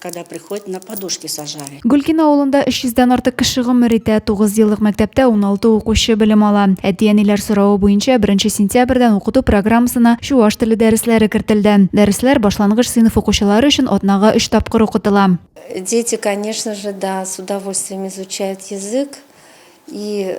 Когда приходит, на подушке сажали. Гөлкина авылында 300 дән артык кеше гомер итә. 9 еллык мәктәптә 16 укучы белем ала. Әти-әниләр соравы буенча 1 сентябрьдән укыту программасына чуваш теле дәресләре кертелде. Дәресләр башлангыч сыйныф укучылары өчен атнага 3 тапкыр укытыла. Дети, конечно же, да, с удовольствием изучают язык и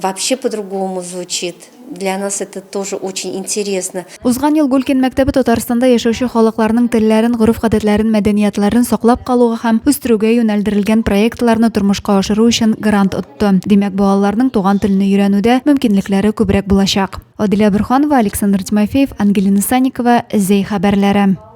Вообще по-другому звучит. Для нас это тоже очень интересно. Узган ел Гулькин мәктәбе Татарстанда яшәүче халыкларның телләрен, гореф-гадәтләрен, мәдәниятләрен саклап калуга һәм үстерүгә юнәлдерелгән проектларны тормышка ашыру өчен грант отты. Димәк, балаларның туган телне өйрәнүдә мөмкинлекләре күбрәк булачак. Адилә Бөрханова, Александр Тимофеев, Ангелина Санникова, Зәй хәбәрләре.